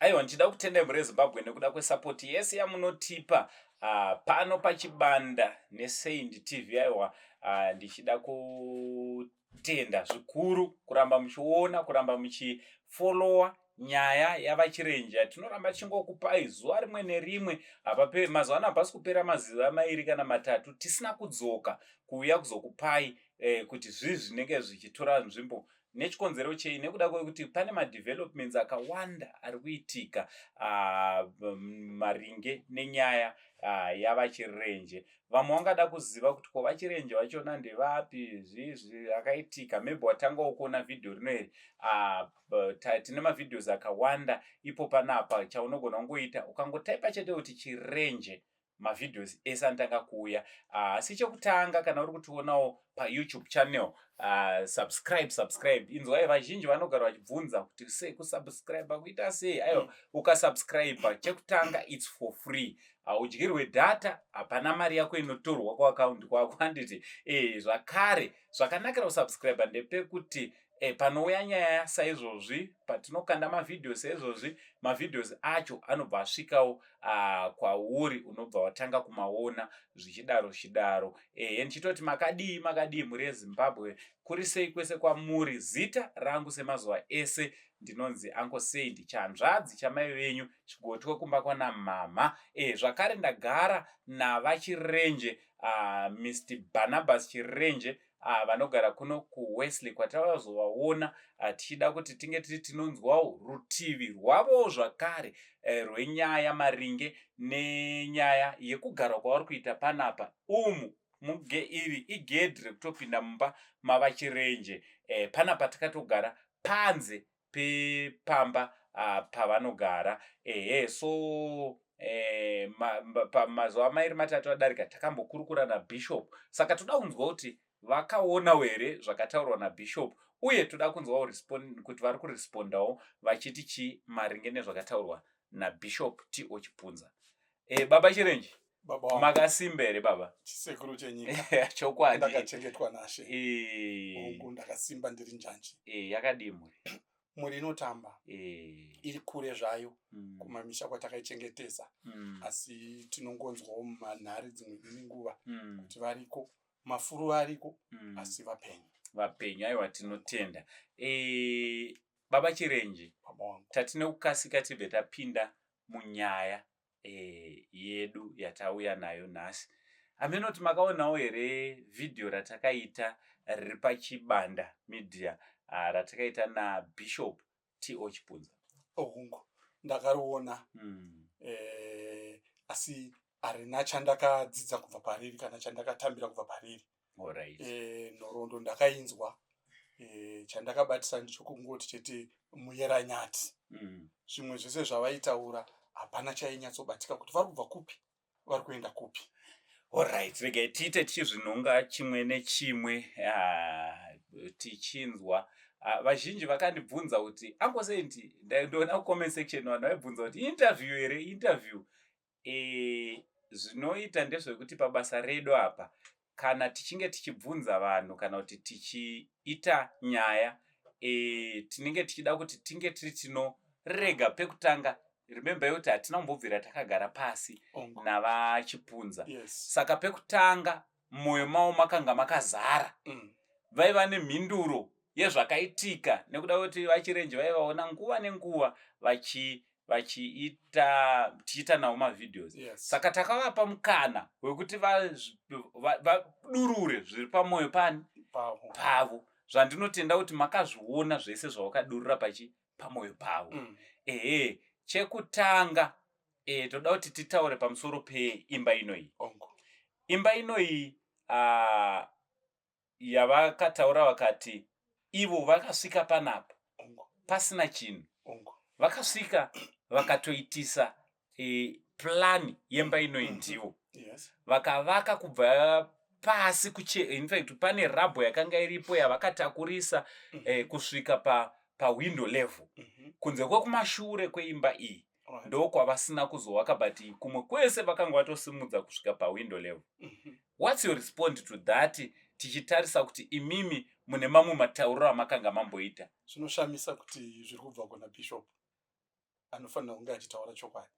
aiwa ndichida kutenda mhuri yezimbabwe nekuda kwesapoti yese yamunotipa uh, pano pachibanda nesaint tv aiwa uh, ndichida kutenda zvikuru kuramba muchiona kuramba muchifolowa nyaya yavachirenja tinoramba tichingokupai zuva rimwe nerimwe hapape mazuva ano hapasi kupera maziva mairi kana matatu tisina kudzoka kuuya kuzokupai eh, kuti zvii zvinenge zvichitora nzvimbo nechikonzero chei nekuda kwekuti pane madevelopments akawanda ari kuitika ah, maringe nenyaya ah, yavachirenje vamwe vangada kuziva kuti ko vachirenje vachona ndevapi zviizvi akaitika maybe watanga wokuona vhidhiyo rino iri ah, tine mavhidhios akawanda ipo panapa chaunogona kungoita ukangotaipa chete kuti chirenje mavideos ese anotanga kuuya ah, asi chekutanga kana uri kutionawo payoutube channel uh, subscribe subscribe inzwai vazhinji vanogara vachibvunza kuti sei kusubscribe kuita sei aiwa mm. ukasubscribe chekutanga its for free haudyirwe uh, data hapana mari yako inotorwa kuakaundi kwako handiti e eh, zvakare zvakanakira kusubscribe ndepekuti e, panouya nyaya saizvozvi patinokanda mavhidhiyo saizvozvi mavhidhios acho anobva asvikawo uh, kwauri unobva watanga kumaona zvichidaro zvichidaro ehe ndichitoti makadii makadii mhuri yezimbabwe kuri sei kwese kwamuri zita rangu semazuva ese ndinonzi anko sei ndichanzvadzi chamai venyu chigotwe kumba kwana mhamha e, zvakare ndagara navachirenje uh, ah, mr barnabas chirenje Ah, vanogara kuno kuwesley kwatavazovaona ah, tichida kuti tinge tiri tinonzwawo rutivi rwavowo zvakare eh, rwenyaya maringe nenyaya yekugara kwavari kuita panapa umu muge iri igedhi rekutopinda mumba mavachirenje eh, panapa tikatogara panze pepamba uh, pavanogara ehe so eh, pamazuva ma, mairi matatu adarika takambokurukura nabishop saka toda kunzwa kuti vakaona were zvakataurwa nabishop uye toda kunzwawo kuti vari kurespondawo vachiti chii maringe nezvakataurwa nabishop t o chipunza e, baba chirenji Baba wangu. Makasimba here baba? Chisekuru chenyika. Chokwadi. Ndakachengetwa naShe. Eh. Hongu ndakasimba ndiri njanji. Eh, yakadii mhuri? Mhuri inotamba. Eh. Iri kure zvayo mm. kumamisha kwatakaichengetesa. Mm. Asi tinongonzwawo manhari dzimwe dzine nguva mm. kuti variko mafuru ariko mm. asi vapenyu. Vapenyu aiwa tinotenda. Eh, baba Chirenje. Baba wangu. Tatine kukasika tibve tapinda munyaya eh, yedu yatauya nayo nhasi hameno kuti makaonawo here vhidhiyo ratakaita riri pachibanda media ah, ratakaita nabishop t o chipunza ohungu oh, ndakariona mm. eh, asi harina chandakadzidza kubva pariri kana chandakatambira kubva pariri Alright. Eh, nhoroondo ndakainzwa eh, chandakabatisa ndicho kungoti chete muyera nyati Mm. zvimwe zvese zvavaitaura hapana chainyatsobatika kuti vari kubva kupi vari kuenda kupi Alright, regai tiite chizvinonga chimwe nechimwe ah, tichinzwa Ah, vazhinji vakandibvunza kuti angosenti ndaindoona kucomment section vanhu vaibvunza kuti interview here interview E, zvinoita ndezvekuti pabasa redu apa kana tichinge tichibvunza vanhu kana kuti tichiita nyaya e, tinenge tichida kuti tinge tiri tinorega pekutanga remember yekuti hatina kumbobvira takagara pasi navachipunza yes. saka pekutanga mumoyo mavo makanga makazara mm. vaiva nemhinduro yezvakaitika nekuda kwekuti vachirenje vaivaona nguva nenguva vachi vachiita tichiita nawo mavideos yes. saka takavapa mukana wekuti vadurure va, va, zviri pamwoyo pani pavo zvandinotenda kuti makazviona zvese zvavakadurura pachi pamwoyo pavo mm. ehe chekutanga e, toda kuti titaure pamusoro peimba inoyi imba inoyi uh, yavakataura vakati ivo vakasvika panapa pasina chinhu vakasvika vakatoitisa e, plani yemba inoyi mm-hmm. ndivo yes. vakavaka kubva pasi kuche infact pane rabho yakanga iripo yavakatakurisa mm-hmm. eh, kusvika pa pawindow level mm-hmm. kunze kwekumashure kweimba iyi right. ndokwavasina kuzowaka but kumwe kwese vakanga vatosimudza kusvika pawindow level mm -hmm. whats your response to that tichitarisa kuti imimi mune mamwe matauriro amakanga mamboita zvinoshamisa kuti zviri kubva kuna bishop anofanira kunge achitaura chokwadi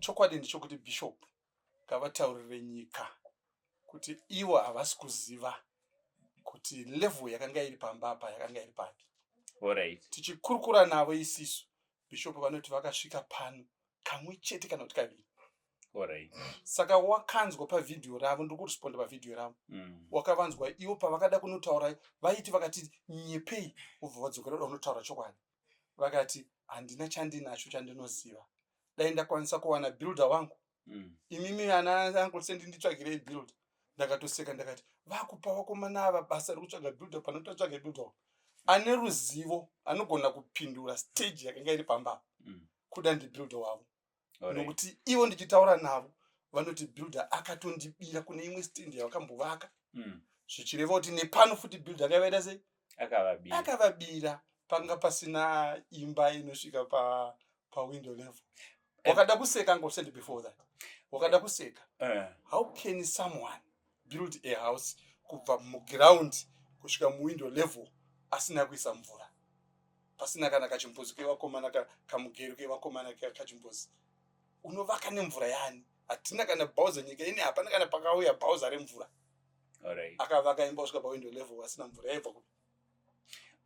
chokwadi ndichokuti bishop ngavataurire nyika kuti ivo havasi kuziva kuti level yakanga iri pamba apa yakanga iri papi right. tichikurukura navo isisu bishop vanoti vakasvika pano kamwe chete kana kuti kaviri right. saka wakanzwa pavhidhiyo ravo ndiri kuresponda pavhidhiyo ravo mm. wakavanzwa ivo pavakada kunotaura vaiti vakati nyepei vobva vadzokerera unotaura chokwadi vakati handina chandinacho chandinoziva dai ndakwanisa kuwana builder wangu mm. imimi ana uncle sendi nditsvagirei builder ndakatoseka ndakati vakupa wakomana ava basa rekutsvaga builder panototsvage builder ane ruzivo anogona kupindura stage yakanga iri pamba mm. kuda ndibuilder wavo nokuti ivo ndichitaura navo vanoti builder akatondibira kune imwe stand yavakambovaka mm. zvichireva kuti nepano futi builder akavaita sei akavabira panga pasina imba inosvika pa pawindow level eh. wakada kuseka ngosend before that wakada kuseka eh. how can someone build a house kubva muground kusvika muwindow level asina kuisa mvura pasina kana kachimbuzi kevakomana kamugero kevakomana kachimbuzi unovaka nemvura yani hatina kana bhauza nyika ini hapana kana pakauya bhauza remvura akavaka imba kusvika pawindo level asina mvura yaibva kupi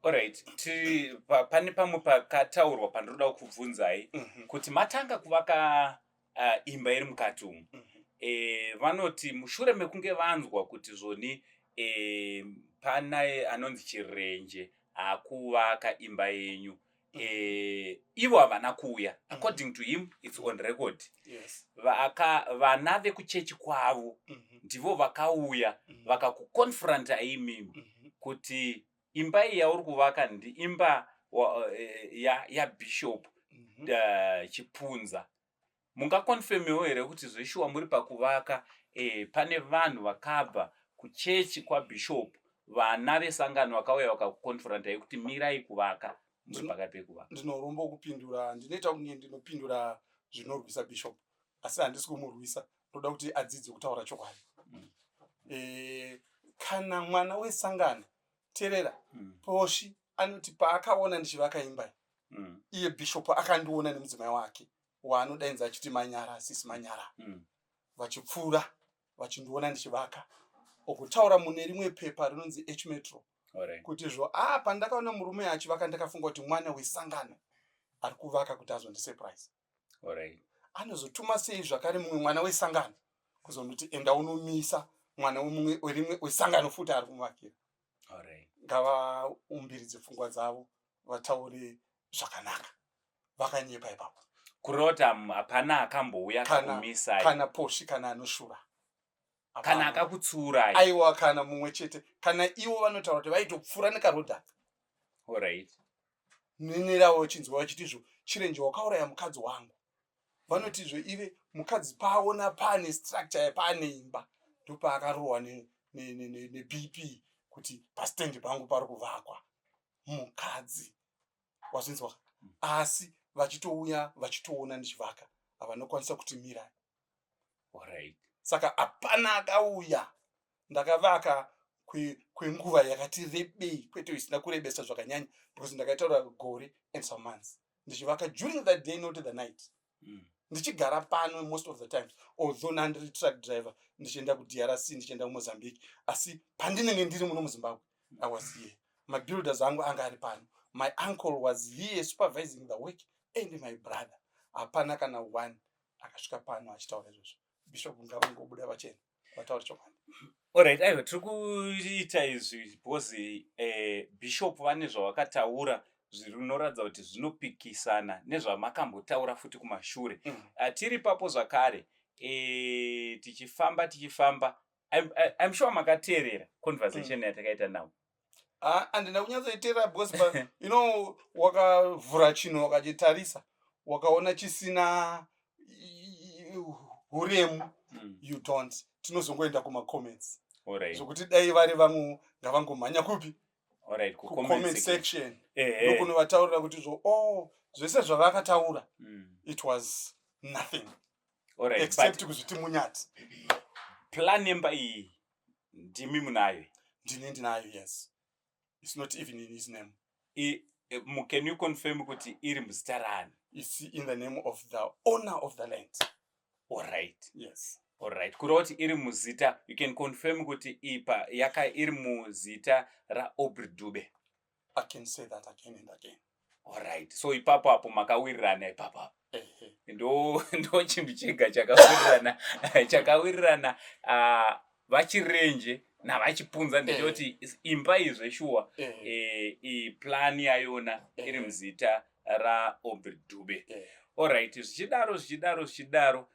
orit ti pane pamwe pakataurwa pandinoda kukubvunzai mhm. kuti matanga kuvaka uh, imba iri mukati umu mm -hmm. e, vanoti mushure mekunge vanzwa kuti zvoni e, pana anonzi chirenje akuvaka imba yenyu e, ivo havana kuuya mm -hmm. according to him its on record yes. Vaka, vana vekuchechi kwavo mm -hmm. ndivo vakauya mm -hmm. vakakuconfronta imi mm -hmm. kuti imba iyi yauri kuvaka ndi imba wa- eh, ya- yabishop Mhm. eh, chipunza mungakonfemiwo here kuti zveshuwa muri pakuvaka eh, pane vanhu vakabva kuchechi kwabishop vana vesangano vakauya vakakukonfrontai kuti mirai kuvaka muri pakati pekuvaka ndinorombo kupindura ndinoita kunge ndinopindura zvinorwisa bishop asi handisi kumurwisa ndoda kuti adzidze kutaura chokwadi mm. e, kana mwana wesangano terera mm. poshi anoti paakaona ndichivaka imba mm. iye bishop akandiona nemudzimai wake waanodainza achiti manyara sisi manyara mm. vachipfuura vachindiona ndichivaka okutaura mune rimwe pepa rinonzi h metro right. kuti zvo ah, pandakaona murume achivaka ndakafunga kuti mwana wesangano ari kuvaka kuti azondisurprise Alright. anozotuma sei zvakare mumwe mwana wesangano kuzonoti enda unomisa mwana wemumwe werimwe wesangano futi ari kumuvakira Alright. ngavaumbiridze pfungwa dzavo vataure zvakanaka vakanyepa ipapo Kurota mm, hapana akambouya Kana- akakumisai. kana posvi kana anoshura kana akakutsiurai aiwa kana mumwe chete kana ivo vanotaura kuti vaitopfuura nekarodhaka orit nenerawo vachinzwa vachiti zvo chirenje wakauraya mukadzi wangu vanoti zvo ive mukadzi paaona paane structure paane imba ndopaakarohwa nebp kuti pastendi pangu pari kuvakwa mukadzi wazvinzwa asi vachitouya vachitoona ndichivaka havanokwanisa kuti mirai Alright. saka hapana akauya ndakavaka kwenguva kwe yakati rebei kwete isina kurebesa zvakanyanya because ndakaitaura gore and some months ndichivaka during the day not the night mm. ndichigara pano most of the times although nandiri truck driver ndichienda kudrc ndichienda kumozambique asi pandinenge ndiri muno muzimbabwe i was here mabuilders angu anga ari pano my uncle was here supervising the work and my brother hapana kana one akasvika pano achitaura izvozvo bishop ngavangobuda vachena vataura chokwadi orit aiwa tiri kuita izvi because eh, bishop vane zvavakataura zvinoratidza kuti zvinopikisana nezvamakambotaura futi kumashure mm. ah, tiri papo zvakare eh, tichifamba tichifamba im sure makateerera conversation mm. yatakaita navo Ah, andina kunyatsoiteerera because but you know wakavhura chinhu wakachitarisa wakaona chisina i- i- huremu Mm. you don't tinozongoenda kumacomments Alright. zvokuti dai vari vangu ngavangomhanya kupi Alright. Ku comment kucomment section. section Eh, eh. ndokunovataurira kuti zvo oh zvese zvavakataura Mm. it was nothing Alright. except But kuzviti munyati plan yemba iyi ndimi munayo ndini ndinayo yes its not even in his name I, um, can you confirm kuti iri muzita raani its in the name of the owner of the land allright yes allright kureva kuti iri muzita you can confirm kuti ipa yaka iri muzita raobri dube I can say that again and again. Alright, so ipapo apo makawirirana ipapo apo ndo ndo chinhu chega chakawirirana chakawirirana uh, vachirenje navachipunza eh. ndichoti imba iyi zveshuwa eh. eh, iplani yayona iri muzita raobert dube orit zvichidaro zvichidaro zvichidaro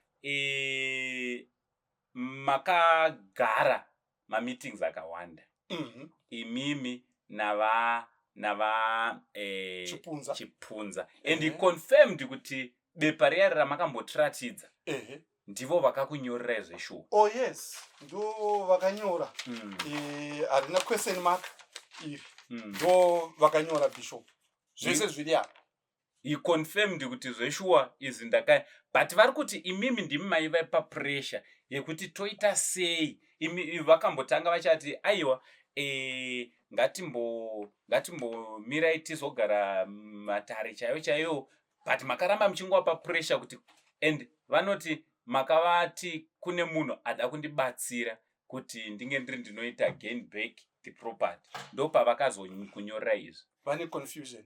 makagara mameetings akawanda mhm. imimi nava nava eh, chipunza, chipunza. and he confirmed kuti bepa riya ramakambotiratidza ndivo vakakunyorera zveshuwa oh yes ndo vakanyora mm. eh, harina mm. e, question mark iri mm. ndo vakanyora bishop zvese zviri apa he confirmed kuti zveshuwa izvi ndaka but vari kuti imimi ndimi maiva papressure yekuti toita sei imi vakambotanga vachati aiwa e, ngatimbo ngatimbomirai tizogara matare chaiyo chaiyo but makaramba muchingowa papressure kuti and vanoti makavati kune munhu ada kundibatsira kuti ndinge ndiri ndinoita gain back the property ndopavakazonyorera izvi vane confusion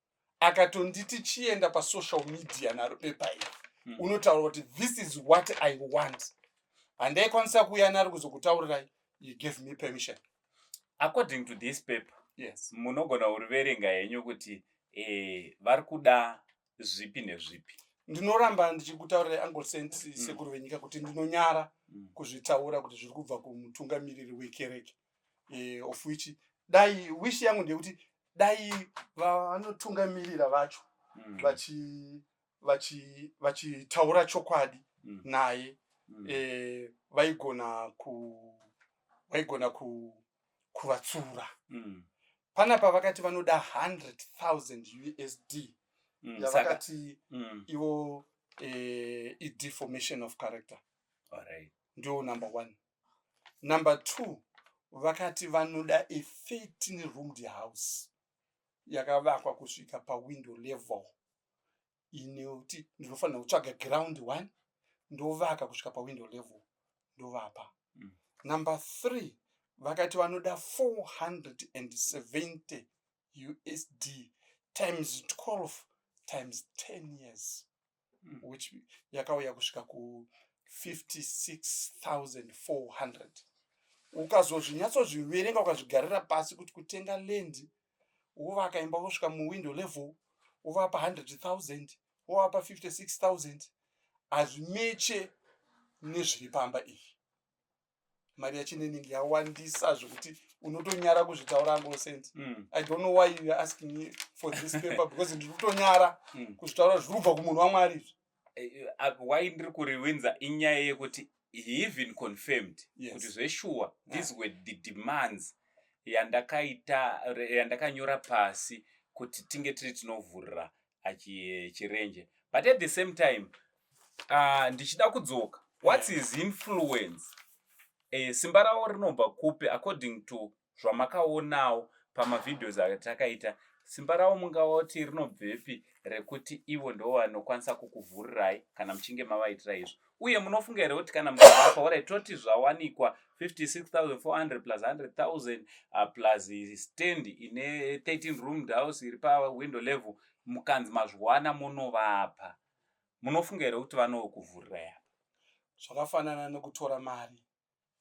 akatonditi chienda pasocial media naro bepa iri hmm. unotaura kuti this is what i want handaikwanisa kuuya nari kuzokutaurirai you gave me permission according to this paper yes munogona kuriverenga henyu kuti eh, vari kuda zvipi nezvipi ndinoramba ndichikutaurirai angle sent hmm. sekuru venyika kuti ndinonyara hmm. kuzvitaura kuti zviri kubva kumutungamiriri wekereke eh, of which dai wish yangu ndeyekuti dai vanotungamirira vacho mm. vachi vachi vachitaura chokwadi mm. naye mm. eh, vaigona ku vaigona ku kuvatsura mm. panapa vakati vanoda 100,000 usd mm. yavakati mm. ivo eh, ideformation of character ndio number one Number two, vakati vanoda a 13 roomed house yakavakwa kusvika pawindow level inoti ndinofanira kutsvaga ground one ndovaka kusvika pawindow level ndovapa. Mm. Number three, vakati vanoda 470 USD times 12 times 10 years. mm. which yakauya kusvika ku 56400 ukazozvinyatsozviverenga ukazvigarira pasi kuti kutenga land wovaka imba wosvika muwindow level wovapa 100000 wovapa 56000 hazvimeche nezviri pamba izvi mari yachinening yawandisa zvekuti unotonyara kuzvitaura ngo sent mm. i don't know why you're asking me for this paper because ndiri kutonyara mm. kuzvitaura zviri kubva kumunhu wamwari izvi eh, eh, why ndiri kuriwinza inyaya yekuti he even confirmed yes. kuti zveshuwa these ah. were the demands yandakaita yandakanyora pasi kuti tinge tiri tinovhurira achirenje but at the same time uh, ndichida kudzoka whats his influence uh, simba ravo rinobva kupi according to zvamakaonawo pamavideos atakaita simba ravo mungava kuti rinobvepi rekuti ivo ndo vanokwanisa kukuvhurirai kana muchinge mavaitira izvo uye munofunga here kuti kana mukavapa orit toti zvawanikwa 56400 plus 100000 ah, plus stand ine 13 roomed house iri pawindow level mukanzi mazviwana munovapa munofunga here kuti vanokuvhurira yapa zvakafanana nekutora mari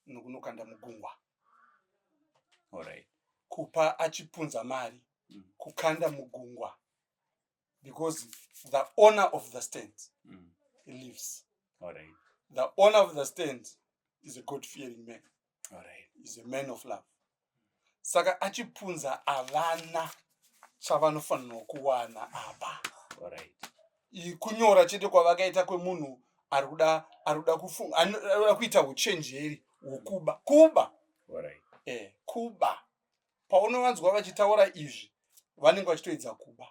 nokunokanda mugungwa orit kupa achipunza mari mm. kukanda mugungwa because the owner of the stand mm. he lives All right. the owner of the stand is a god fearing man All right. is a man of love saka achipunza avana chavanofanirwa kuwana apa All right. I- kunyora chete kwavakaita kwemunhu ari kuda ari kuda kufunga ano- ari kuda kuita uchenjeri hwokuba kuba All right. eh, kuba paunovanzwa vachitaura izvi vanenge vachitoedza kuba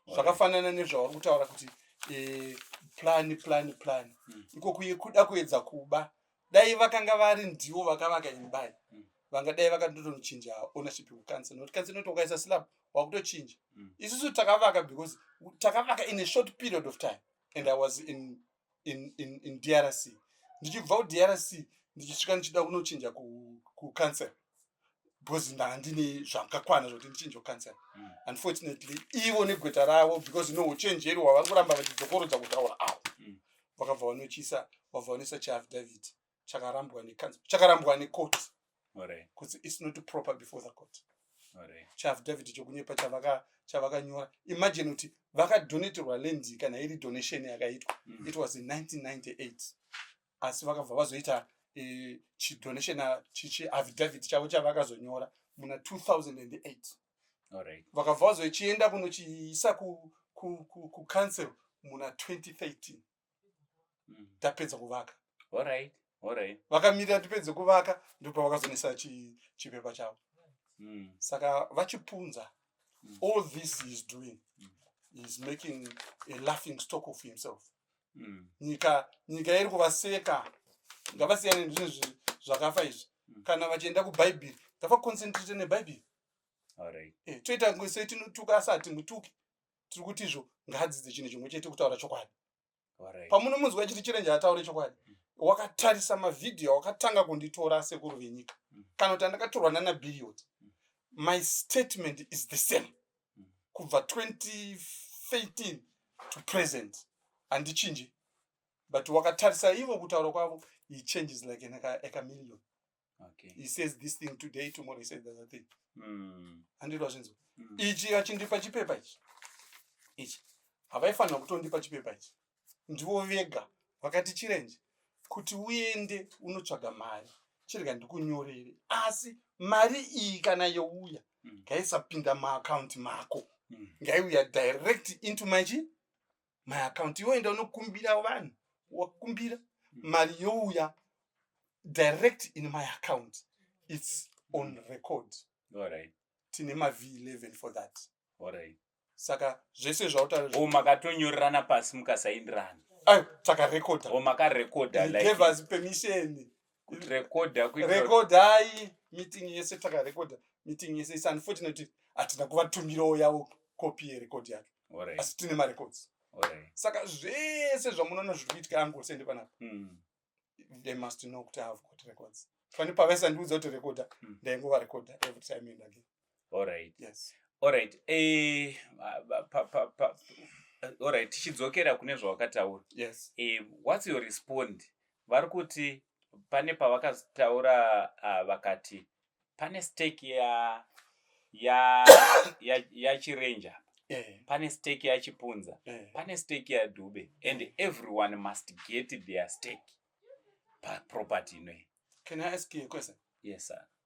zvakafanana nezvavari kutaura kuti eh, plan plan plan hmm. iko kuye kuda kuedza kuba dai vakanga vari ndivo vakavaka imbai hmm. vanga dai vakatotonochinja ownership kukansa nokuti kansa inoti ukaisa slab wakutochinja hmm. isusu takavaka because takavaka in a short period of time and i was in in, in, in drc ndichibva kudrc ndichisvika ndichida kunochinja kucancel ku because ndandine zvakakwana zvokuti ndichinje kucancel mm. unfortunately ivo negweta ravo because no uchenjeri hwavari kuramba vachidzokorodza kutaura awo mm. vakabva vanochisa vabva vanoisa chiaffidavit chakarambwa nekanzi chakarambwa necourt kuti its not proper before the court chiafidavhiti chokunyepa chavakanyora imagine kuti vakadonaterwa land kana iri donation yakaitwa mm. it was in 1998 asi vakabva vazoita eh, chidonation ah, chiafidavhiti chavo chavakazonyora muna 2008 vakabva vazochienda kunochiisa kucouncil muna 2013 mm. tapedza kuvaka alright alright vakamirira tipedze kuvaka ndipo vakazonisa chi chipepa chavo mm. saka vachipunza mm. all this he is doing mm. he is making a laughing stock of himself mm. nyika nyika iri kuvaseka ngavasiyane nezvinhu zvakafa izvi mm. kana vachienda kubhaibheri ngavaconcentrate nebhaibheri alright eh, toita ngwese tinotuka asati mutuki tiri kuti izvo ngaadzidze chinhu chimwe chete kutaura chokwadi pamunomunzwa chiti chirenje ataure chokwadi mm. wakatarisa mavhidhiyo wakatanga kunditora sekuru venyika mm. kana kuti andakatorwa nana birioti mm. my statement is the same kubva 2013 to present handichinji but wakatarisa ivo kutaura kwavo he changes like an ecamillion okay. he says this thing today tomorrow he says the other thing mm. andiro azvinzwa mm. ichi achindipa chipepa ichi ichi havaifanira kutondipa chipepa ichi ndivo vega vakati chirenje kuti uende unotsvaga mari chirega ndikunyorere asi mari iyi kana youya mm. ngaisapinda maakaunti mako mm. ngaiuya direct into machi my account iwe enda unokumbira vanhu wakumbira mm. mari youya direct in my account its on record right. tine mav 11 for that right. saka zvese zvautaura makatonyorerana pasi mukasaindirana saka recorda makarecorda like, gave us permission rekodai meeting yese takarekodha meeting yese is unfortunate hatina kuvatumirawo yavo copy yerekodhi yake asi tine marecords saka zvese zvamunoona zviri kuitika angosende panapa hmm. they must know kuti have got records fani pavaisa ndiudza kuti rekodha hmm. ndaingovarekodha every time and again Alright. Yes. Alright. Eh, pa, pa, pa, pa. Alright, tichidzokera kune zvawakataura. Yes. Eh, what's your respond? Vari kuti pane pavakataura uh, vakati pane stake ya ya ya, ya chirenja eh. pane stake ya chipunza eh. pane stake ya dube and eh. everyone must get their stake pa property inoyi. Can I ask you a question? Yes sir.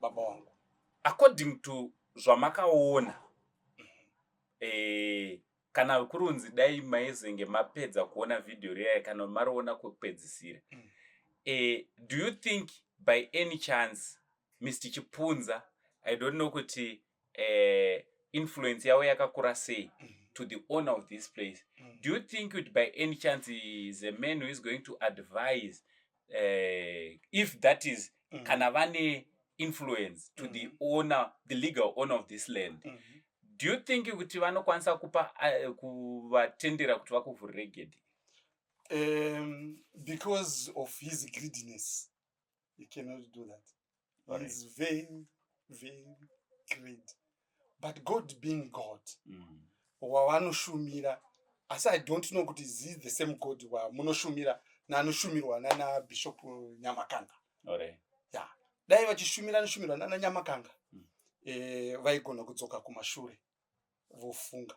baba wangu according to zvamakaona eh, kana kurunzi dai maizenge mapedza kuona vhidhiyo riyaya kana mariona kwekupedzisira mm. eh, do you think by any chance mr chipunza i don't know kuti uh, influence yavo yakakura sei to the owner of this place mm. do you think kuti by any chance is a man who is going to advise uh, if that is mm. kana vane influence to mm. the owner the legal owner of this land mm -hmm. do you think kuti vanokwanisa kupa uh, kuvatendera kuti vakuvhurire gedhi um, because of his greediness he cannot do that All right. he's very very great but god being god Mm. wavanoshumira asi i don't know kuti is he the same god wamunoshumira nanoshumirwa nana bishop nyamakanga All right. dai vachishumira anoshumirwa nana nyamakanga Mm. eh, vaigona kudzoka kumashure vofunga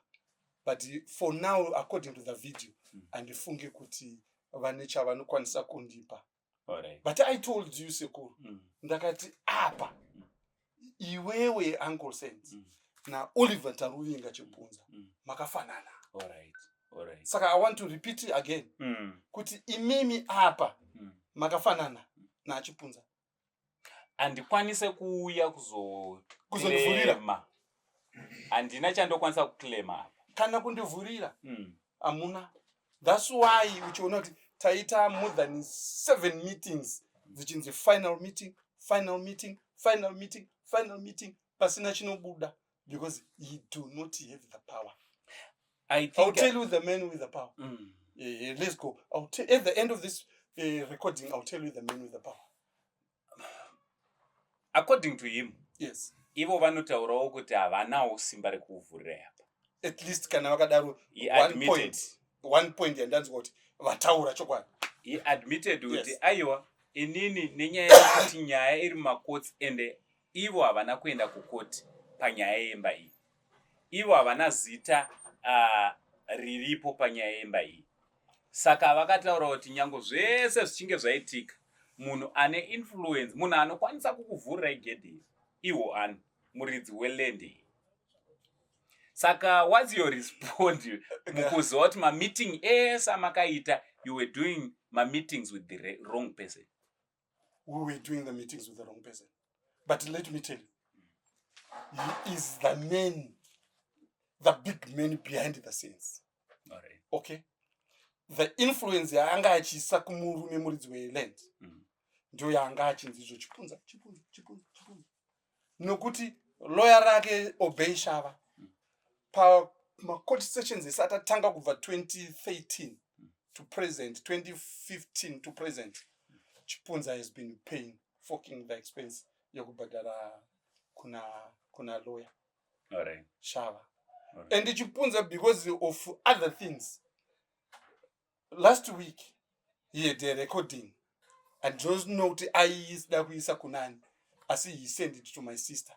but for now according to the video Mm. handifunge kuti vane chavanokwanisa kundipa Alright. but i told you sekuru Mm. ndakati apa iwewe uncle saint Mm. naoliver taruvinga chipunza Mm. makafanana Alright. Alright. saka i want to repeat it again Mm. kuti imimi apa Mm. makafanana nachipunza handikwanise kuuya kuzokuzorema handina chandokwanisa kuclaima apa kana kundivhurira mm. hamuna mm. thats why uchiona kuti taita more than seven meetings dzichinzi final meeting final meeting final meeting final meeting pasina chinobuda because you do not have the power I think I'll tell you the man with the power mm. yeah, let's go I'll tell, at the end of this uh, recording I'll tell you the man with the power according to him yes ivo vanotaurawo kuti havanawo simba rekuvhurira apa at least kana vakadaro one point yandanzwa kuti vataura chokwadi he admitted kuti yes. aiwa inini nenyaya yekuti nyaya iri makotsi ende Ivo havana kuenda kukoti panyaya yemba iyi. Ivo havana zita uh, riripo panyaya yemba iyi. Saka vakataura kuti nyango zvese zvichinge zvaitika munhu ane influence munhu anokwanisa kukuvhurira igedhi iri iwo ani muridzi weland iyi saka whats your respond mukuziva kuti mameeting ese amakaita you were doing mameetings with the wrong person we were doing the meetings with the wrong person but let me tell you he is the man the big man behind the scenes right. okay the influence yaanga achiisa kumurume muridzi weland mm. ndio yaanga achinzi izvo chipunza chipunza chipunza chipunza nokuti loya rake obey shava pamacourt sessions ese atatanga kubva 2013 to present 2015 to present chipunza has been paying forking the expense yekubhadhara kuna kuna loya right. shava right. and chipunza because of other things last week he had a recording and don't know kuti aisida kuisa kunani asi he send it to my sister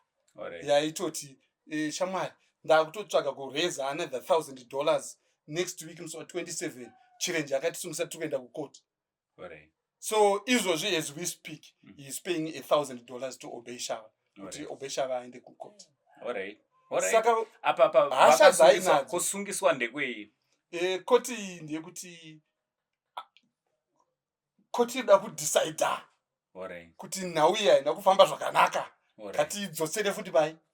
yaitoti eh, shamwari ndakutotsvaga kureza another thousand dollars next week musi wa 27 chirenje akatisungisa tiri kuenda kucourt so izvozvi as we speak mm. he is paying a thousand dollars to obey shava kuti obey shava aende kucourt saka hasha dzainadzo kusungiswa ndekwei e, koti iyi ndeyekuti koti ida kudecida kuti nhau iyi haina kufamba zvakanaka ngatiidzosere futi pai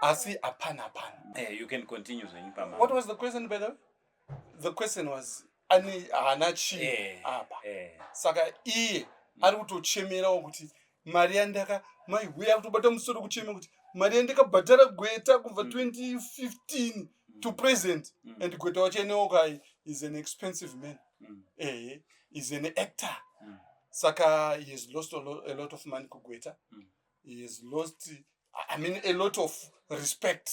asi hapana hapana hey, eh, you can continue zvenyu pama what was the question by the way the question was ani haana chii eh, apa hey, eh. hey. saka iye mm. ari kutochemerawo kuti mari yandaka mai huya kutobata musoro kuchema kuti mari yandakabhadhara gweta kubva 2015 mm. mm. to present mm. and gweta wacho eneokai is an expensive man mm. ehe is an actor mm. saka he has lost a lot, a lot of money kugweta mm. he has lost i mean a lot of respect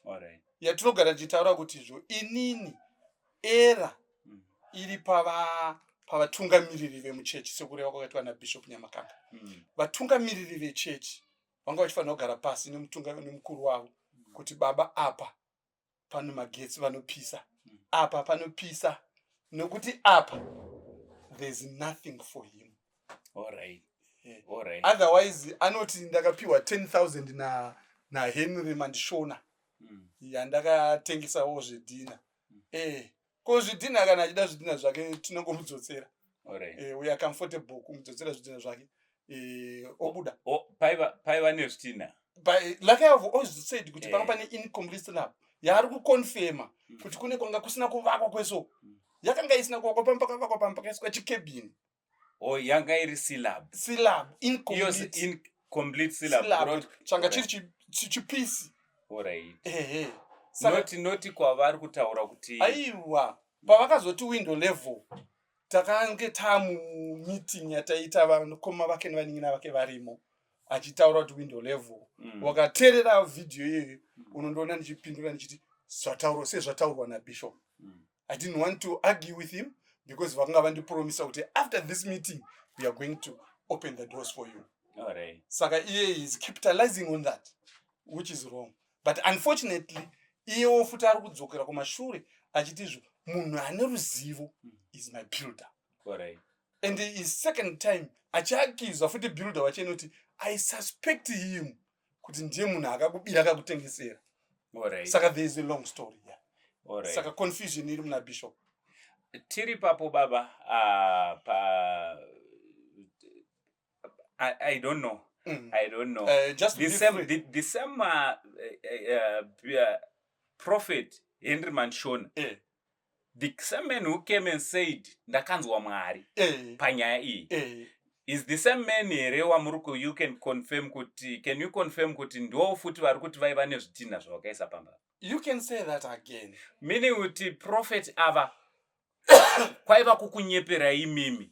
Alright. yatinogara tichitaura kuti izvo inini era Mm. iri pava pavatungamiriri vemuchechi sekureva kwakaitwa nabishop nyamakanga Mm. vatungamiriri vechechi vanga vachifanira kugara pasi nemutunga- nemukuru wavo kuti baba apa pano magetsi vanopisa apa panopisa nokuti apa there's nothing for him Alright. Eh, Alright. otherwise anoti ndakapiwa 10000 na nahenry mandishona Mm. yandakatengesawo zvedhina eh ko zvidhinha kana achida zvidhinha zvake tinongomudzosera Alright. Eh, we are comfortable kumudzodzera zvidhinha zvake Eh, obuda O- o- paiva paiva nezvitinha But eh, like I have always said kuti Eh. panga pane incomplete slab yaari kuconfirma Mm. kuti kune kwanga kusina kuvakwa kweso Mm. yakanga isina kuvakwa pamba pakavakwa pamba pakaiswa chikebhini oh yanga iri syllab syllab incomplete in complete syllab syllab changa chiri chi chi piece alright eh eh sanoti noti kwavari kutaura kuti aiwa pavakazoti window level takange tamu meeting yataita vanokoma vake nevanin'ina vake varimo achitaura kuti window level mm. wakateerera video iyoyo mm. unondoona ndichipindura ndichiti zvataurwa sezvataurwa nabishop mm. i didn't want to argue with him because vakanga vandipromisa kuti after this meeting we are going to open the doors for you right. saka iye is capitalizing on that which is wrong but unfortunately iyewo futi ari kudzokera kumashure achiti izvo munhu ane ruzivo hmm. is my builder right. and is second time achiakizwa futi builder wacho inoti i suspect him kuti ndiye munhu akakubira akakutengesera right. saka there is a long story yeah. right. saka confusion iri muna bishop tiri papo baba uh, pa I, i don't know mm. i don't know uh, just the same, the, the same uh, uh, uh, prophet henry manshona yeah. the same man who came and said ndakanzwa mwari eh. panyaya iyi eh. is the same man here wamuri ku you can confirm kuti can you confirm kuti ndiwo futi vari kuti vaiva nezvitinha zvavakaisa pamba you can say that again meaning kuti prophet ava kwaiva kukunyeperai mimi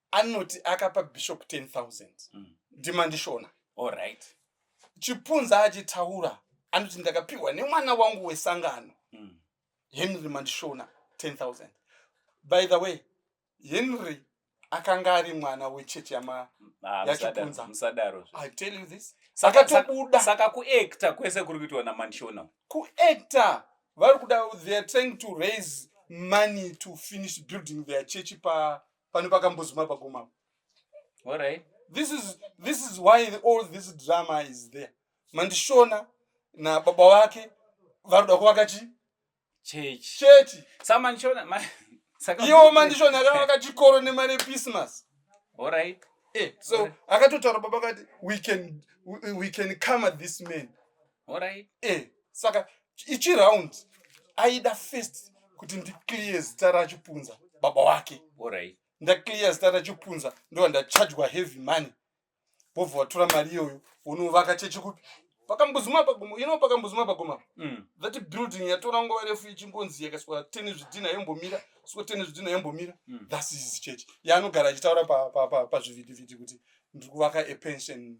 anoti akapa bishop 10000 ndimandishona Alright. chipunza achitaura anoti ndakapiwa nemwana wangu wesangano Mm. henry mandishona 10000 by the way henry akanga ari mwana wechechi yama Ah, Ya musada- chipunza. musadaro zve. i tell you this Saka- akatobuda saka kuacta kwese kuri kuitwa namandishona kuactor vari kuda they are trying to raise money to finish building their chechi pa pane pakambozuma paguma apa All right. this is this is why the, all this drama is there mandishona nababa vake vanoda kuvaka chi Church. chechi Samanishona ma saka iwo mandishona akavaka chikoro nemari yechristmas All right. eh, so akatotaura baba akati we can, we, we can comer this man Alright. Eh, saka ichi round aida first kuti ndiclear zita rachipunza baba wake. Alright. Ndaclear zita rachipunza ndo ndachajwa heavy money. Bobva watora mari iyoyo unovaka chechi kupi? Pakambuzuma pagomo, you know pakambuzuma pagomo. Mm. That building yatora nguva refu ichingonzi yakaiswa teni zvidhina yombomira, so teni zvidhina yombomira. Mm. That is church. Yaanogara achitaura pa pa pa, pa zvivhiti vhiti kuti ndiri kuvaka a pension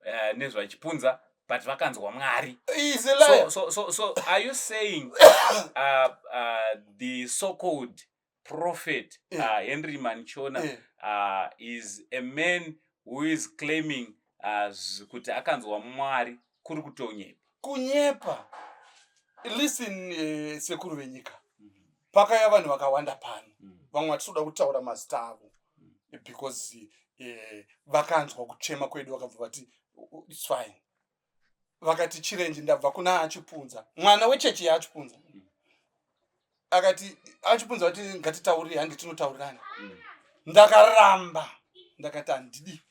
uh, nezvachipunza but vakanzwa mwari so, so, so, so are you saying uh, uh, the so called prophet yeah. uh, henry manchona yeah. uh, is a man who is claiming uh, kuti akanzwa mwari kuri kutonyepa kunyepa listen uh, sekuru venyika mm-hmm. pakaya vanhu vakawanda pano mm. vamwe vatisoda kutaura mazita avo mm. because eh, vakanzwa kuchema kwedu vakabva vati its fine vakati chirenji ndabva kuna achipunza mwana wechechi yaachipunza mm. akati achipunza vati ngatitaurire handi tinotaurirana mm. ndakaramba ndakati handidi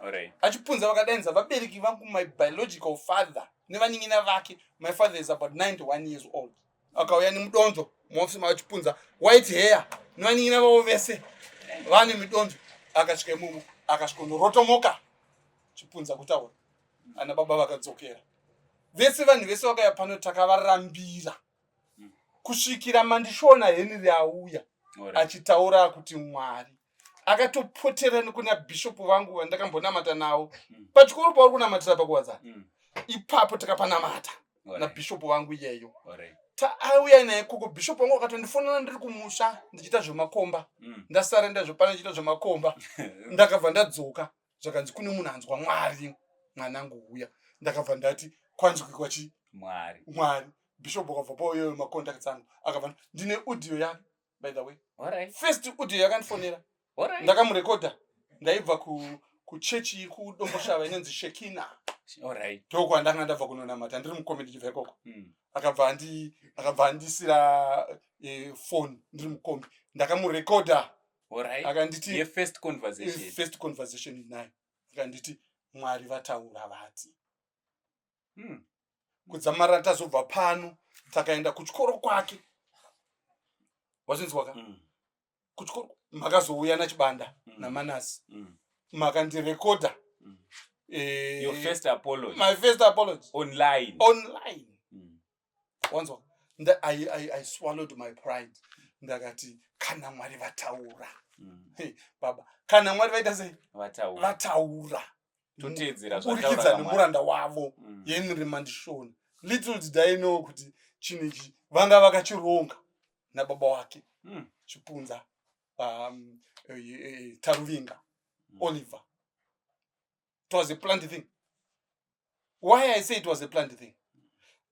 right. achipunza vakadanidza vabereki vangu my biological father nevanin'ina vake my father is about 91 years old mm. akauya nemudonzvo muofisi mava chipunza white hair novanin'ina vavo vese vane midonzvo akasvika imumu akasvikondorotomoka chipunza kutaura ana baba vakadzokera vese vanhu vese vakaya pano takavarambira kusvikira mandishona henry auya achitaura kuti mwari akatopotera nekuna bhishopu vangu vandakambonamata nawo mm. pachikoro pauri kunamatira pakuwadza mm. ipapo takapanamata nabhishopu vangu iyeyo taauya naye koko bhishopu vangu akatondifonana ndiri kumusha ndichiita zvemakomba mm. ndasara ndazvepana ndichiita zvemakomba ndakabva ndadzoka zvakanzi kune munhu anzwa mwari mwanangu huya ndakabva ndati kwanzwikwa chi mwari mwari bhishopu akabva pauyoyo makontakts angu akabva ndine udio yake by the way Alright. first audio yakandifonera Alright. ndakamurekodha ndaibva ku kuchechi kudomboshava inonzi shekina Alright. ndoo kwandanga ndabva kunonamata ndiri mukomedi ndibva ikoko Mm. akabva andi akabva andisira eh, phone ndiri mukombi ndakamurekodha Alright. akanditi Ye first eh, conversation. first conversation naye akanditi mwari vataura vati hmm. kudzamara tazobva pano takaenda kuchikoro kwake wazvinzwaka mm. kuchikoro makazouya nachibanda mm. namanasi mm. makandirekodha mm. eh, my first apology online online mm. wanzwa I, I, i swallowed my pride ndakati kana mwari vataura mm. hey, baba kana mwari vaita sei vataura toteedzeraburikidza nemuranda wavo mm. yenyri mandishona little did i know kuti chinhu ichi vanga vakachironga nababa wake mm. chipunza um, e, e, e, taruvinga mm. oliver it was a plant thing why i say it was a plant thing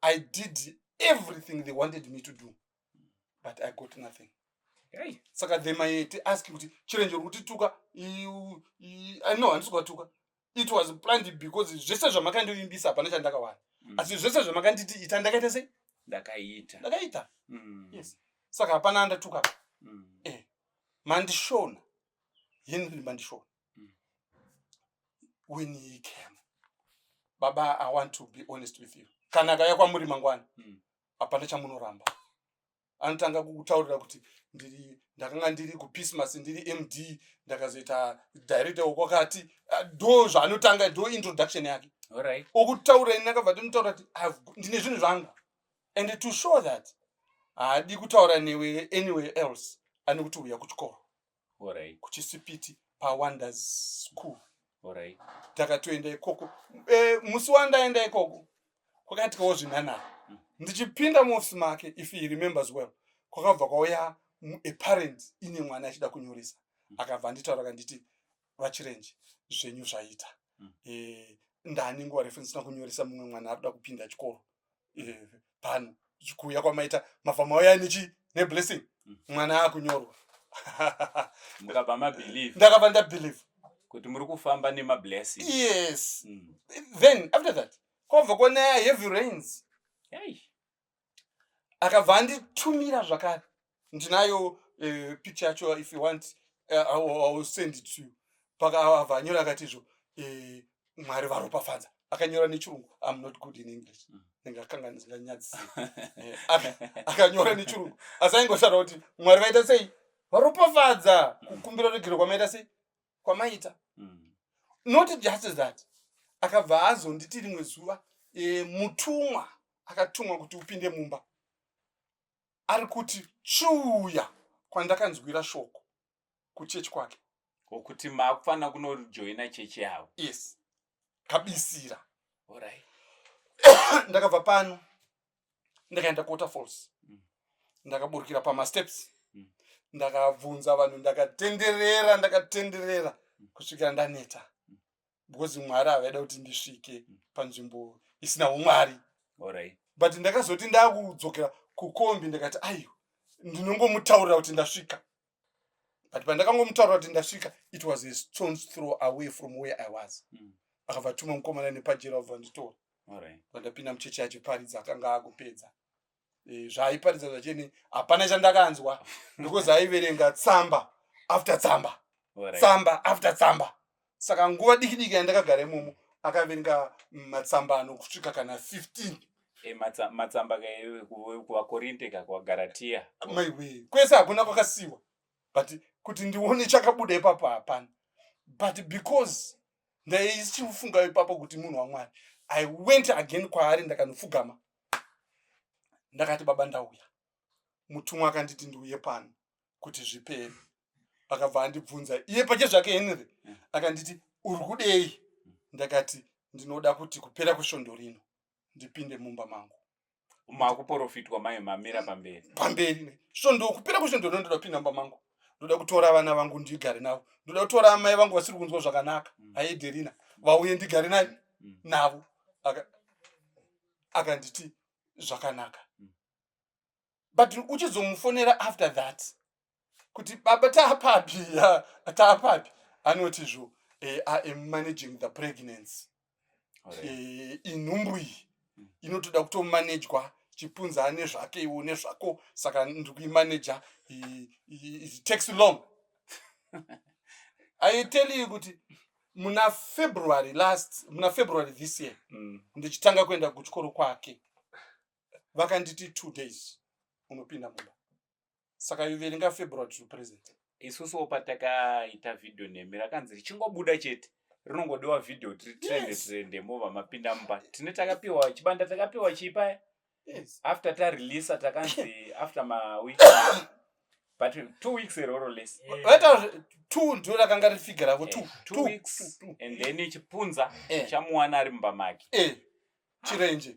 i did everything they wanted me to do but i got nothing hey. saka they might ask kuti chirenje uri kutituka i know handisi kuwatuka it was planned because zvese zvamakandivimbisa hapana chandakawana mm. asi zvese zvamakanditi ita ndakaita sei ndakaita ndakaita mm. yes saka hapana andatuka mm. eh. mandishona henry mandishona when he came baba i want to be honest with you kana akaya kwamuri mangwani hmm. hapana chamunoramba anotanga kutaurira kuti ndiri ndakanga ndiri kupismas ndiri md ndakazoita director wekwakati ah, do zvaanotanga do introduction yake okutaura ini akabva tinotaura kuti ndine zvinhu zvangu and to show that haadi kutaura newe anywhere else ane kuti uya kuchikoro Orai. Kuchisipiti paWonders School. Orai. Takatoenda ikoko. E, musi wandaenda ikoko kwakatikawo zvinhanhara. Mm. Ndichipinda muofisi make if he remembers well. Kwakabva kwauya a parent ine mwana achida kunyoresa. Mm. Akabva anditaura kanditi vachirenje zvenyu zvaita. Mm. E, ndani nguva refu ndisina kunyoresa mumwe mwana arikuda kupinda chikoro. pano eh, chikuuya kwamaita mafama uya nechi neblessing mm. mwana akunyorwa mukabva mabelieve ndakabva ndabelieve kuti muri kufamba nemablessing yes mm. then after that kwabva kwanaya heavy rains akabva anditumira zvakare ndinayo uh, picture yacho if you want uh, I will send it to you pakavha anyora akati izvo uh, mwari varopafadza akanyora nechirungu im not good in english mm. ndingakanga ndinganyadzisa eh, akanyora nechirungu asi aingotaura kuti mwari vaita sei varopafadza kukumbira regero kwamaita sei kwamaita mm. not just that akabva azonditi rimwe zuva e, mutumwa akatumwa kuti upinde mumba ari kuti chuuya kwandakanzwira shoko kuchechi kwake okuti makufanira kunojoina chechi yavo yes kabisira orit ndakabva pano ndakaenda kuwater falls mm. ndakaburukira pamasteps mm. ndakabvunza vanhu ndakatenderera ndakatenderera mm. kusvikira ndaneta because mwari havaida kuti ndisvike mm. panzvimbo isina umwari but ndakazoti ndakudzokera kukombi ndikati aiwa ndinongomutaurira kuti ndasvika but pandakangomutaurira kuti ndasvika it was a stones throw away from where i was mm. akabva tuma mukomana nepajera vabva nditora pandapinda muchechi yacho paridza akanga akupedza eh, zvaaiparidza zvacheni hapana chandakanzwa because aiverenga tsamba after tsamba tsamba after tsamba saka nguva diki diki yandakagara imomo akaverenga matsamba anokusvika kana 15 eh, matsamba kuvakorinte ka kuvagaratiya maiwe kwese hakuna kwakasiwa but kuti ndione chakabuda ipapo hapana but because ndaichifunga ipapo kuti munhu wamwari i went again kwaari ndakanopfugama ndakati baba ndauya mutumwa akanditi ndiuye pano kuti zvipere akabva andibvunza iye pache zvake henry mm. akanditi uri kudei ndakati ndinoda kuti kupera kwesvondo rino ndipinde mumba mangu makuporofitwa mai mamira pamberi pamberi ne so ndokupera kushe ndoda ndoda pin number mangu ndoda kutora vana vangu ndigare navo ndoda kutora amai vangu vasiri kunzwa zvakanaka mm. aederina vauye ndigare nani mm. navo akanditi aka zvakanaka mm. but uchizomufonera after that kuti baba taapapi taapapi anoti zvo eh, i am managing the pregnancy eh, inhumbu iyi mm. inotoda kutomanejwa chipunza ane zvake iwo nezvako saka ndiri kuimaneja it takes long aiteli iyi kuti muna february last muna february this year mm. ndichitanga kuenda kuchikoro kwake vakanditi two days unopinda mumba saka you verenga february to present isusuwo patakaita vhidhiyo nemi rakanzi richingobuda chete rinongodiwa vhidhiyo kuti ritrende Yes. trende mova mapinda mumba tine takapiwa chibanda takapiwa chii paya yes after tareleasa takanzi after maweek but two weeks eroro less Eh, vaita two ndo rakanga riri figure ravo two Eh, two two weeks two, two. and then chipunza Eh. chamuwana ari mumba make eh chirenje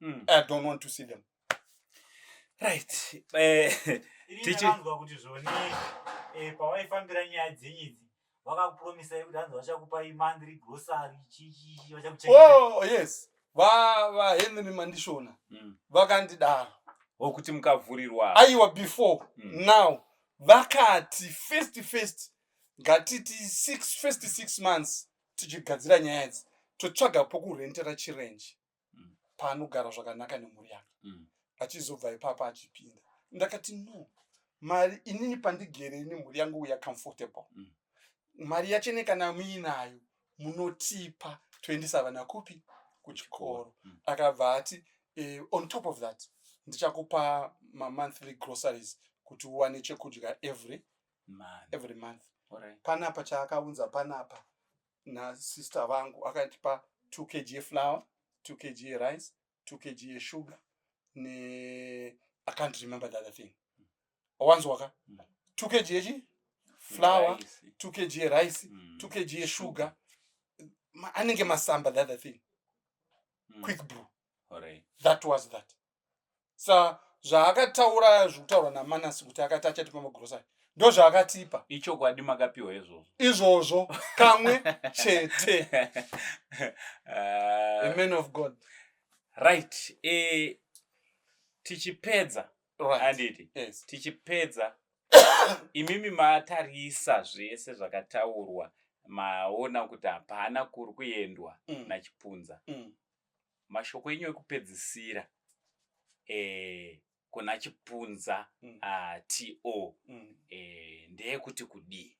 mm. i don't want to see them right eh, tichivanzwa kuti zvoni eh, pawaifambira nyaya dzenyu idzi vakakupromisai kuti hanzi vachakupai monthly grocery chichii vachakuchengeta oh yes vahenry mandishona mm. vakandidaro wokuti mukavhurirwa aiwa before mm. now vakati first first ngatiti six first six months tichigadzira nyaya idzi totsvaga pokurentera chirenji mm. paanogara zvakanaka nemhuri yake mm. achizobva ipapa achipinda ndakati no mari inini pandigere ini mhuri yangu uya comfortable mm. mari yachene kana muinayo munotipa toendesa vana kupi kuchikoro mm. akabva ati eh, on top of that ndichakupa mamonthly groceries kuti uwane chekudya every, every month panapa chaakaunza panapa nasister vangu akandipa 2 kg yeflower 2 kg yerice 2 kg yesugar ne i can't remember the other thing wanzwaka 2 kg yechi flower 2 kg yerice 2 kg yesugar anenge masamba the other thing mm. quick brew that was that sa zvaakataura zvekutaurwa namanasi kuti akati achatipa magrosari ndo zvaakatipa ichokwadi makapiwa izvozvo izvozvo kamwe chete uh, man of god right e, tichipedza right. anditi yes. tichipedza imimi matarisa zvese zvakataurwa maona kuti hapana kuri kuendwa mm. nachipunza mm. mashoko enyu ekupedzisira eh, kuna chipunza mm. uh, to mm. eh, ndeyekuti kudii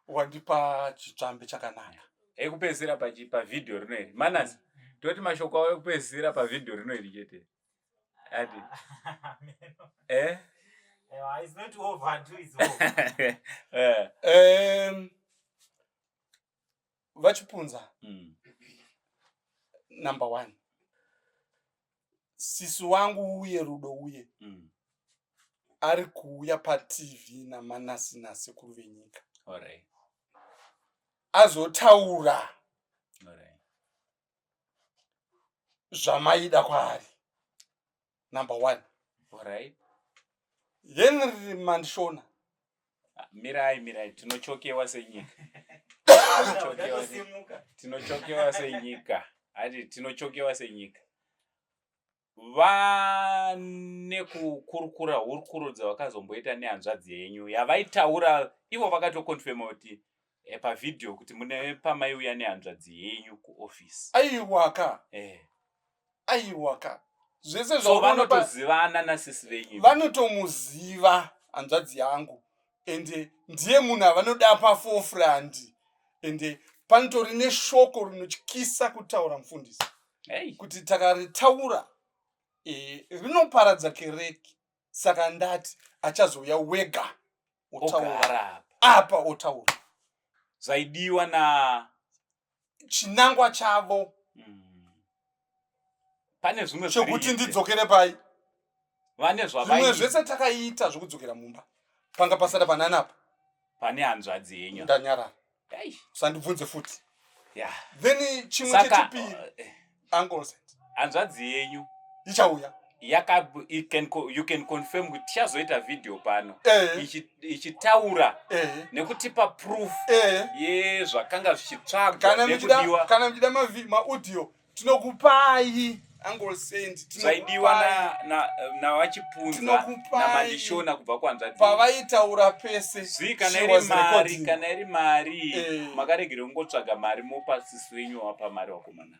wandipa chitsvambe chakanaka ekupedzisira pavhidhiyo rino iri manas mm. toti mashoko avo ekupedzisira pavhidhiyo rino iri chete adi eh? eh. vachipunza mm. number one sisi wangu uye rudo uye mm. ari kuuya patv namanasi nasekuru venyika right. azotaura right. zvamaida kwaari number one right. henry mandishona ah, mirai mirai tinochokewa senyika tinochokewa senyika hati tinochokewa senyika vane kukurukura hurukuro dzavakazomboita nehanzvadzi yenyu yavaitaura ivo vakatokonfema kuti eh, pavideo kuti mune pamaiuya nehanzvadzi yenyu kuoffice aiwaka eh. aiwaka zvese so vanotozivana nasisi venyu vanotomuziva hanzvadzi yangu ende ndiye munhu avanoda pafofrandi ende panotori neshoko rinotyisa kutaura mufundisi hey. kuti takaritaura e, rinoparadza kereki saka ndati achazouya wega otaura apa otaura zvaidiwa na chinangwa chavo mm. pane zvimwe chokuti ndidzokere pai vane zvavimwe zvese takaita zvokudzokera mumba panga pasada panani apa pane hanzvadzi yenyu ndanyarara usandibvunze futi yeah. then chimwe chechipiri uh, eh. uncles hanzvadzi yenyu ichauya yaka you can, you can confirm kuti tichazoita video pano eh. ichitaura eh. nekutipa proof eh. yezvakanga zvichitsvagwa nekudiwa kana muchida maaudio tinokupai uncle saint zvaidiwa navachipunza na, na namandishona kubva kwanzvati pavaitaura pese zvi kana iri mari kana iri mari eh. makaregere kungotsvaga mari mopa sisi wenyu wapa mari wakomana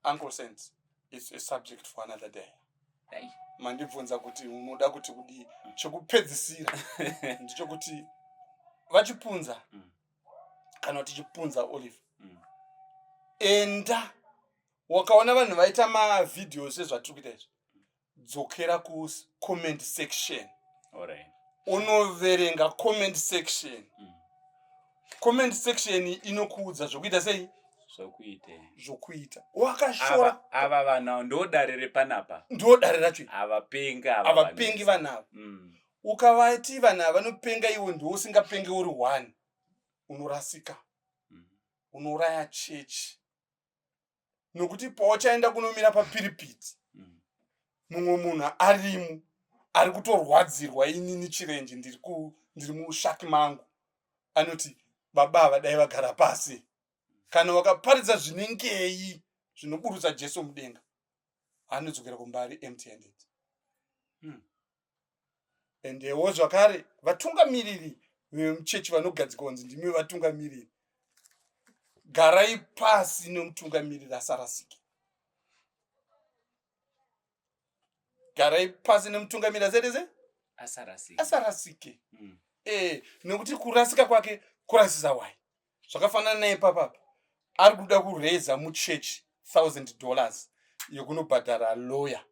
uncle saint its a subject for another day hey. mandibvunza kuti unoda kuti kudii chokupedzisira ndichokuti vachipunza mm. kana kuti chipunza olive mm. enda wakaona vanhu vaita mavideos ezvatiri kuita izvi dzokera kucomment section unoverenga comment section mm. comment section inokuudza zvokuita sei zvokuita zvokuita wakashora ava vana ndodare repanapa ndodare racho avapengi avapengi vanava mm. Ukavati vanhu ava vanopenga iwe ndiwe usingapenge uri one unorasika mm. unouraya chechi nokuti pauchaenda kunomira papiripiti mm. mumwe munhu arimo ari kutorwadzirwa inini chirenje ndiri ndiri mushaki mangu anoti baba ava dai vagara pasi kana wakaparidza zvinengei zvinoburutsa jesu mudenga anodzokera kumba ari empty handed mm. endewo zvakare vatungamiriri vemuchechi vanogadzika kunzi ndimi vatungamiriri garai pasi nemutungamiriri asarasike garai pasi nemutungamiriri asaitese asarasike mm. e eh, nekuti kurasika kwake kurasisa wai zvakafanana naye papa apa ari kuda kureza muchechi thousand dollars yekunobhadhara lawyer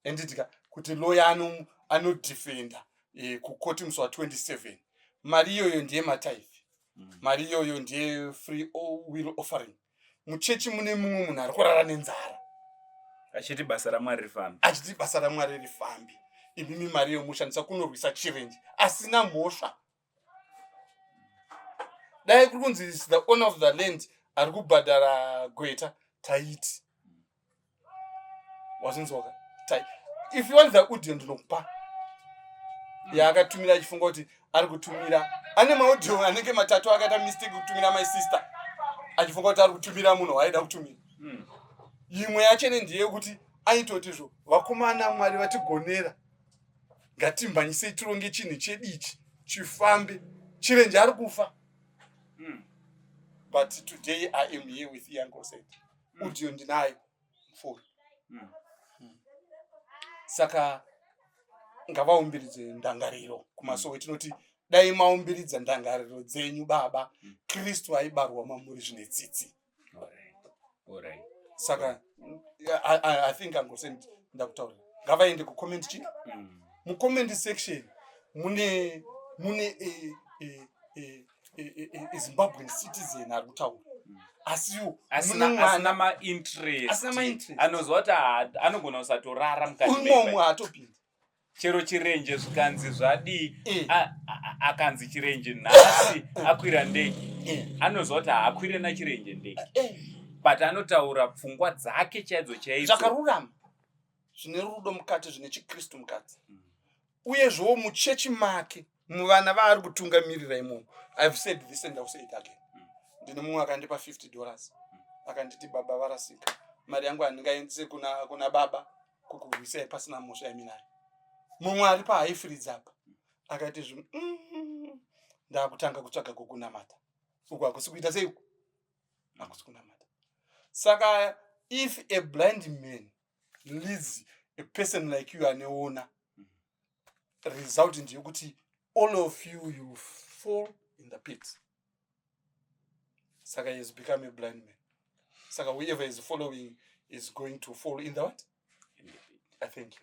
enditika kuti lawyer ano anodefenda e, kukoti musi wa 27 mari iyoyo ndiye mataifi mm. mari iyoyo ndiye free will offering muchechi mune mumwe munhu ari kurara nenzara achiti basa ramwari rifambi achiti basa ramwari rifambi imimi mari yomushandisa kunorwisa chirenji asina mhosva dai kuri kunzi the owner of the land ari kubhadhara gweta taiti wazvinzwaka tai if you want the audio ndinokupa yaakatumira achifunga kuti ari kutumira ane maudio anenge matatu akaita mistake kutumira my sister achifunga kuti ari kutumira munhu waaida kutumira hmm. imwe yachene ndeyekuti aitotizvo vakomana mwari vatigonera ngatimhanyisei tironge chinhu chedu ichi chifambe chirenje ari kufa hmm. but today i am here with yankoset hmm. udio ndinayo mfuri hmm. saka ngavaumbiridze ndangariro kumasowe tinoti dai maumbiridza ndangariro dzenyu baba kristu aibarwa mamuri zvine tsitsi saka I, I, i think angosend ndakutaura ngavaende kucomment chi mm. mucomment section mune mune eh, eh, eh, zimbabwean citizen ari kutaura mm. asiwo asina mainterest anozwa kuti anogona kusatorara mukati umwe haatopindi chero chirenje zvikanzi zvadii eh. akanzi chirenje nhasi eh. akwira ndege eh. anoziva kuti haakwire nachirenje ndege but anotaura pfungwa dzake chaidzo chaidzo zvakarurama zvine rudo mukati zvine chikristu mukati mm. uyezvewo muchechi make muvana vaari kutungamirira imomo ive said this and ill say it again mm. ndine mumwe akandipa 50 dollars mm. akanditi baba varasika mari yangu handingaendise kuna, kuna baba kukurwisai pasina mhosva yaminayo mumwe ari pahaifiridza apa mm. akaiti zvinhu mm, ndakutanga kutsvaga kukunamata uku hakusi kuita sei uku hakusi kunamata saka if a blind man leads a person like you aneona result ndeyekuti all of you you fall in the pit saka he has become a blind man saka whoever is following is going to fall in the what in the pit. i thank you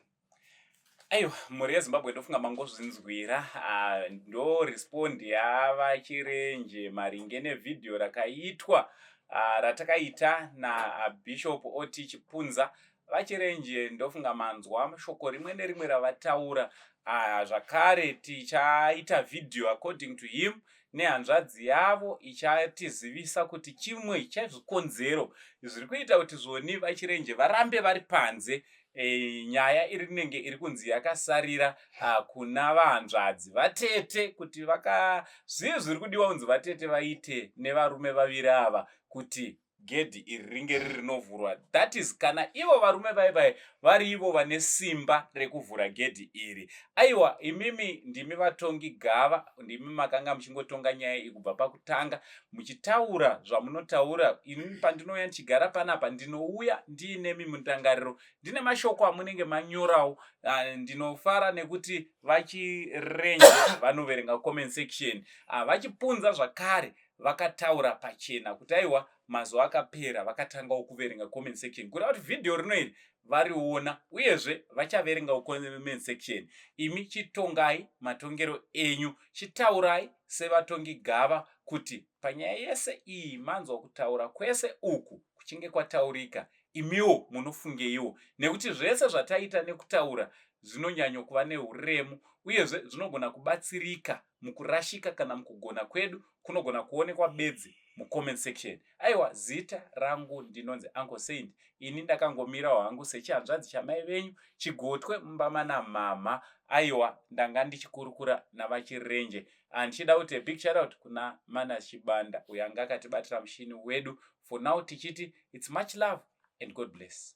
aiwa mhuri yezimbabwe ndofunga mangozvinzwira ah, ndo respond yava chirenje maringe nevhidhiyo rakaitwa ah, ratakaita nabishop ot chipunza VaChirenje ndofunga manzwa shoko rimwe nerimwe ravataura uh, zvakare tichaita video according to him nehanzvadzi yavo ichatizivisa kuti chimwe chezvikonzero zviri kuita kuti zvoni vachirenje varambe vari panze e, nyaya iri nenge iri kunzi yakasarira uh, kuna vahanzvadzi vatete kuti vaka zvii zviri kudiwa kunzi vatete vaite nevarume vaviri ava kuti gedhi iri ringe riri rinovhurwa that is kana ivo varume vaye vaye vari ivo vane simba rekuvhura gedhi iri aiwa imimi ndimi vatongi gava ndimi makanga muchingotonga nyaya iyi kubva pakutanga muchitaura zvamunotaura ini pandinouya ndichigara panapa ndinouya ndiinemi mundangariro ndine mashoko amunenge manyorawo ah, ndinofara nekuti vachirenje vanoverenga comment section ah, vachipunza zvakare vakataura pachena kuti aiwa mazuva akapera vakatangawo kuverenga comment section kureva kuti vhidhiyo rino iri variona uyezve vachaverengawo comment section imi chitongai matongero enyu chitaurai sevatongi gava kuti panyaya yese iyi manzwa kutaura kwese uku kuchinge kwataurika imiwo munofungeiwo nekuti zvese zvataita nekutaura zvinonyanyo kuva neuremu uyezve zvinogona kubatsirika mukurashika kana mukugona kwedu kunogona kuonekwa bedzi mucomment section aiwa zita rangu ndinonzi uncle saint ini ndakangomirawo hangu sechihanzvadzi chamai venyu chigotwe mumba mana mhamha aiwa ndanga ndichikurukura navachirenje andichida kuti big shoutout kuna mana chibanda uyo anga akatibatira mushini wedu for now tichiti its much love and god bless